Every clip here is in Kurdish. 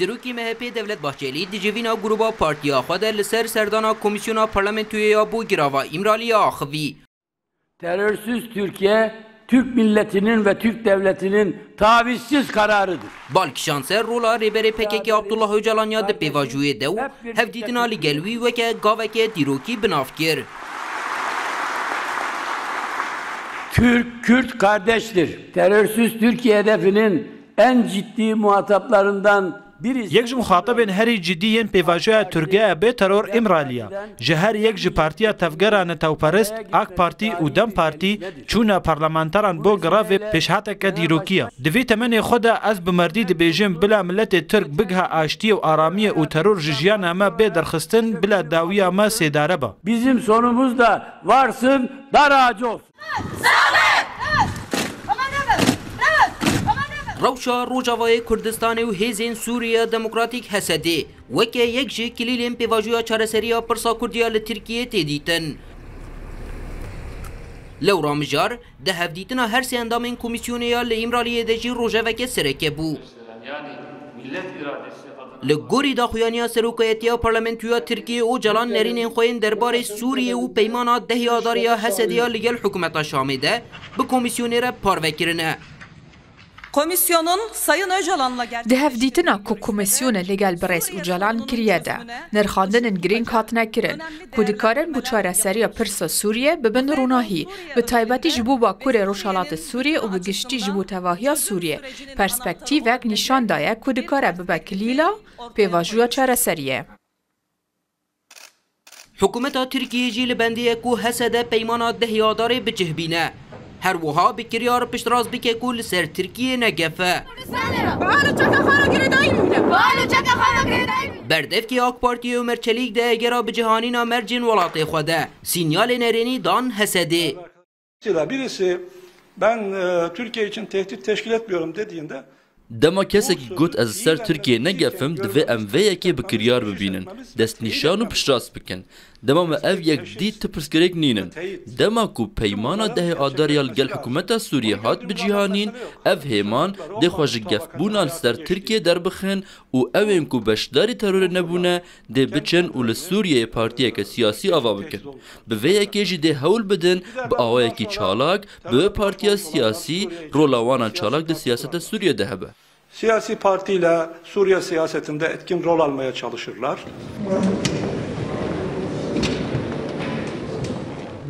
Serokê MHP'ê Devlet Bahçelî di civîna grûba partiya xwe de li ser serdana Komîsyona Parlamentoyê ya bo Girava Îmraliyê axivî. Terörsüz Türkiye, Türk milletinin ve Türk devletinin tavizsiz kararıdır. Bal kişand ser rola Rêberê PKK'ê Abdullah Ocalan ya di pêvajoyê de û hevdîtina li gel wî weke gaveke dîrokî bi nav kir. Türk, Kürt kardeştir. Terörsüz Türkiye hedefinin en ciddi muhataplarından birisi. Yek ji muxatibên herî cidî yên pêvajoya TURGEEB'ê Teror Îmrali ya. Ji her yek ji partiya tevgera netewperist, AK Parti û dem Parti, Çûna parlamenteran bo grevê pêşhateke dîrokî ye. Di vê temenê xwe de ez bi merdî dibêjim bila miletê Tirk bigiha aştiyê û aramiyê û teror ji jiyana me bê derxistin bila dawiya me sêdare be. Bizim sonumuz da varsın dara acof. Rewşa Rojavayê Kurdistanê û hêzên Sûriya Demokratîk, HSD'ê, Weke yek ji kilîlên pêvajoya çareserî ya pirsa kurdî ya li Tirkiyeyê tê dîtin. Lewra Mijar, di hevdîtina her sê endamên komîsyonê ya li Îmraliyê de jî rojeveke sereke bû. Li gorî daxuyaniya Serokayetiya Parlamentoya Tirkiyeyê Ocalan nerînên xwe yên derbarê Sûriyê û peymana dehê adarê ya Hesedê ya li gel hikûmeta Şamê de bi komîsyonê re parve kirine. Di hevdîtina ku komîsyonê li gel birêz Ocalan kiriye de, nirxandinên girîng hatine kirin ku dikarin bo çareseriya pirsa Sûriyê bibin ronahî, bi taybetî ji bo Bakurê Rojhilatê Sûriyê û bi giştî ji bo tevahiya Sûriyê perspektîvek nîşan daye ku dikare bibe kilîla pêvajoya çareseriyê. Hikûmeta Tirkiyê jî li bendê ye ku HSD peymana dehê adarê bicihbîne. Her wiha bi kiryar piştrast bike ku li ser Tirkiyê ne gef e. Berdevkê AK Partiyê Omer Çelîk di egera bicihanîna mercên welatê xwe de, sînyalê nerênî dan HSD'ê. Zira birisi ben Türkiye için tehdit teşkil etmiyorum dediğinde Dema kesekî got ez li ser Tirkiyeyê ne gefim divê em vê yekê bi kiryar bibînin, destnîşan û piştrast bikin. Dema me ev yek dît tu pirsgirêk nînin. Dema ku peymana dehê adar ya li gel hikûmeta Sûriyê hat bicîhanîn, ev hêman dê xwe ji gefbûna li ser Tirkiyeyê derbixin û ewên ku beşdarî terorê nebûne Dê biçin û li Sûriyeyê partiyeke siyasî ava bikin. Bi vê yekê jî dê hewl bidin bi awayekî çalak bi wê partiya siyasî rola wan a çalak di siyaseta Sûriyeyê de hebe. Siyasî partîler Sûriye siyasetinde etkin rol almaya çalışirler.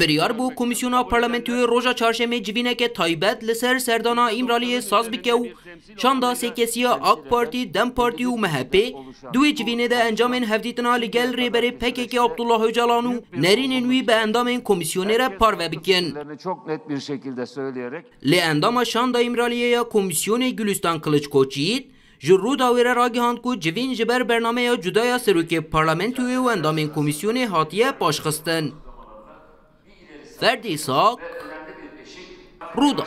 Biryar bû Komîsyona Parlamentoyê roja Çarşemê civîneke taybet li ser serdana Îmraliyê saz bike û Çanda sêkesiya AK Partî, Dem Partî û MHP'ê di wê civînê de encamên hevdîtina li gel Rêberê PKK'ê Abdullah Ocalan û nerînên wî bi endamên komîsyonê re parve bikin. Lê endama Şanda Îmraliyê ya komîsyonê Gulîstan Kiliç Koçyiğit ji Rûdawê re ragihand ku civîn ji ber bernameya cuda ya Serokê Parlamentoyê û endamên komîsyonê hatiye paşxistin. Ferdi Isak, Rûdaw.